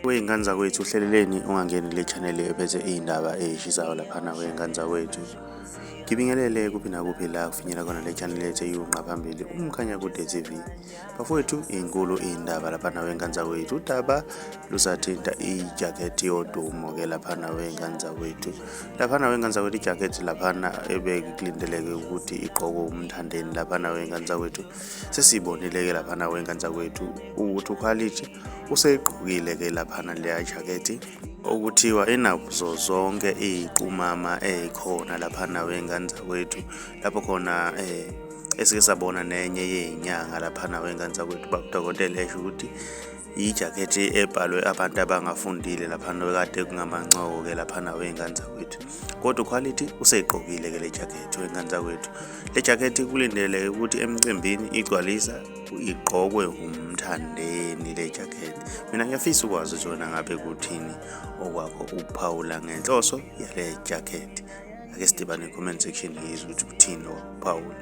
Wey'ngane zakwethu uhleleleni ungangeni le channel ephethe iy'ndaba ey'shisayo laphana wey'ngane zakwethu ngibingelele kuphi nakuphi la kufinyela khona le channel ethu eyunqa phambili umkhanya kude tv bafowethu inkulu iy'ndaba laphana wey'ngane zakwethu udaba lusathinta ijakhethi yodumo ke laphana wey'ngane zakwethu laphana wey'ngane zakwethu ijakhethi laphana ebekulindeleke ukuthi igqokwe umthandeni laphana wey'ngane zakwethu sesiyibonile ke laphana wenkanza kwethu ukuthi ukhwalithi useyigqokile ke laphana leya jakethi okuthiwa inazo zonke iy'qumama ey'khona laphana wenkanza kwethu lapho khona um eh, esike sabona nenye yey'nyanga laphana wenkanza kwethu babudokotela esho ukuthi yijakhethi ebhalwe abantu abangafundile laphana kade kungamancoko ke laphana wey'ngane zakwethu kodwa ukhwalithi useyigqokile ke le jakhethi wey'ngane zakwethu le jakhethi kulindeleke ukuthi emcimbini igcwalisa igqokwe umthandeni le jakhethi mina ngiyafisa ukwazi ukuthi wena ngabe kuthini okwakho ukuphawula ngenhloso yale jakhethi ake sidibane comment section ngizwe ukuthi kuthini okuphawula